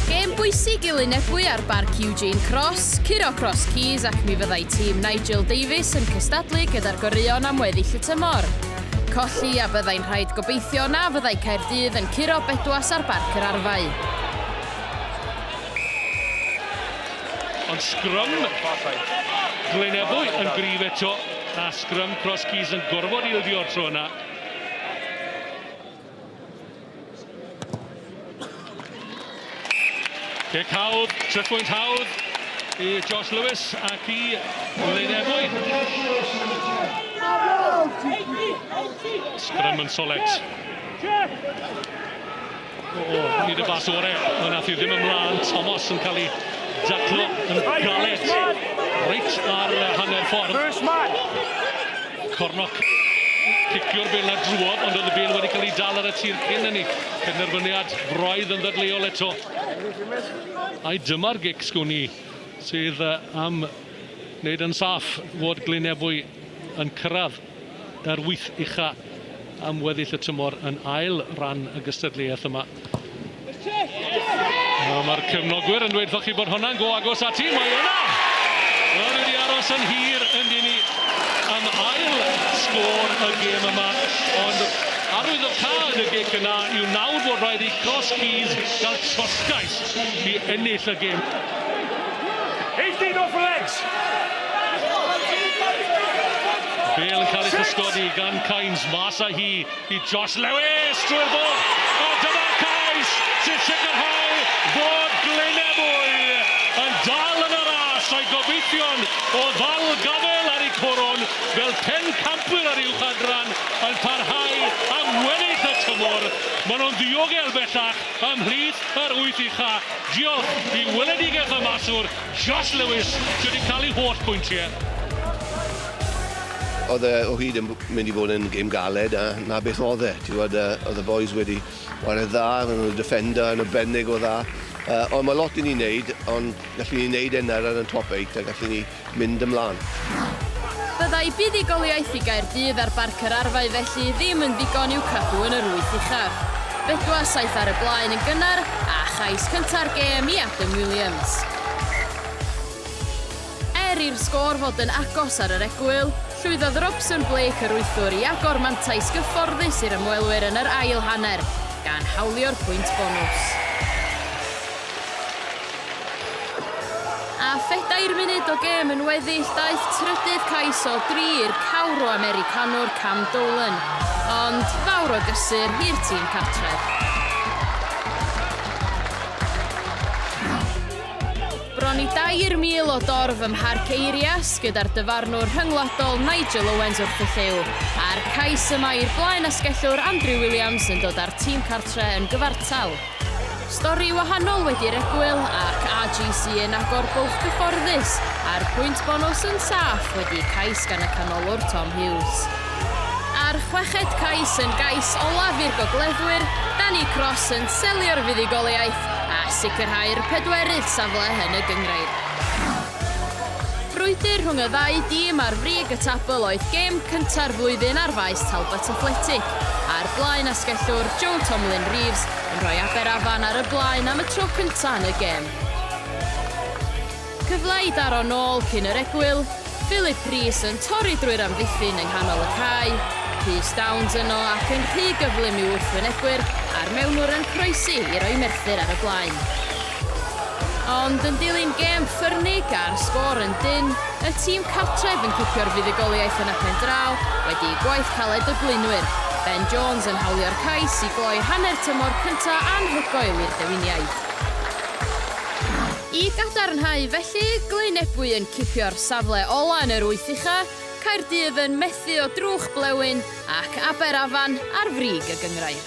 Gêm bwysig i Lunebwy ar Barc Eugene Cross, curo Cross Keys ac mi fyddai tîm Nigel Davies yn cystadlu gyda'r goreuon am weddill y tymor. Colli a byddai'n rhaid gobeithio na fyddai Caerdydd yn curo bedwas ar Barc yr Arfau. Ond sgrym Glynebwy yn gryf eto a sgrym Cross Keys yn gorfod ildio o'r tro yna. Cic hawdd, tripwynt hawdd i Josh Lewis ac i Lyn Ebwy. Sgrym yn solet. Oh, nid y bas ore, ond nath i ddim ymlaen. Thomas yn cael ei daclo yn galed. Reit ar hanner ffordd. First man! Cornoc cicio'r bel na drwodd, ond oedd y bel wedi cael ei dal ar y tir cyn hynny. Penderfyniad braidd yn ddadleuol eto. Ai dyma'r gic sgwn i sydd am wneud yn saff fod Glyn Ebwy yn cyrraedd er wyth ucha am weddill y tymor yn ail ran y gystadleuaeth yma. Mae'r cefnogwyr yn dweud wrthoch chi bod hwnna'n go agos ati, mae yna! Wel, wedi aros yn hir yn dini am ail sgôr y gêm yma, ond arwydd o cad y gic yna yw nawr bod rhaid i Cross Keys gael trosgais i ennill y gêm. 18 off legs! Bel yn cael ei chysgodi gan Kynes, mas â hi i Josh Lewis drwy'r bwrdd, a dyma Kynes sy'n sicrhau bod Glynebwy yn dal yn y ras a'i gobeithion o ddal gafael ar eu coron fel pencampwyr yr uwch adran yn parhau am weddill y tymor. Maen nhw'n ddiogel bellach ymhlith yr wyth ucha' diolch i weledigaeth y maswr Josh Lewis sydd wedi cael ei holl bwyntiau. Oedd e o hyd yn mynd i fod yn gêm galed a 'na beth oedd e. Ti'n gwbod yy oedd y bois wedi whare dda, ro'n nhw'n defender yn arbennig o dda. Yy ond ma' lot i ni neud ond gallen ni neud e nawr ar yn top eight a gallen ni mynd ymlan. Fyddai buddugoliaeth i Gaerdydd ar Barc yr Arfau felly ddim yn ddigon i'w cadw yn yr wyth uchaf. Bedwar saith ar y blaen yn gynnar a chais cynta'r gêm i Adam Williams. Er i'r sgôr fod yn agos ar yr egwyl, llwyddodd Robson Blake yr wythwr i agor mantais gyfforddus i'r ymwelwyr yn yr ail hanner, gan hawlio'r pwynt bonws. A phedair munud o gêm yn weddill daeth trydydd cais o dri i'r cawr o Americanwr Cam Dolan, ond fawr o gysur i'r tîm cartref. Bron i 2,000 o dorf ym Mharc Eirias gyda'r dyfarnwr rhyngwladol Nigel Owens wrth y llyw, a'r cais yma i'r blaen asgellwr Andrew Williams yn dod â'r tîm cartre yn gyfartal. Stori wahanol wedi'r egwyl ac AGC yn agor bwlch gyfforddus a'r pwynt bonws yn saff wedi cais gan y canolwr Tom Hughes. A'r chweched cais yn gais olaf i'r gogleddwyr, Danny Cross yn selio'r fuddugoliaeth a sicrhau'r pedwerydd safle yn y gynghrair. Brwydr rhwng y ddau dîm ar frig y tabl oedd gêm cynta'r flwyddyn ar faes Talbot Athletic, a'r blaen asgellwr Joe Tomlyn Reeves yn rhoi Aberafan ar y blaen am y tro cyntaf yn y gêm. Cyfle i daro nôl cyn yr egwyl, Philip Rees yn torri drwy'r amddiffyn yng nghanol y cae, Rhys Downs yno ac yn rhy gyflym i'w wrthwynebwyr a'r mewnwr yn croesi i roi Merthyr ar y blaen. Ond yn dilyn gêm ffyrnig a'r sgôr yn dynn, y tîm cartref yn cipio'r fuddugoliaeth yn y pen draw wedi i gwaith caled y blaenwyr, Ben Jones yn hawlio'r cais i gloi hanner tymor cynta' anhygoel i'r Dewiniaid. I gadarnhau felly, Glyn Ebwy yn cipio'r safle ola' yn yr wyth ucha', Caerdydd yn methu o drwch blewyn ac Aberafan ar frig y gynghrair.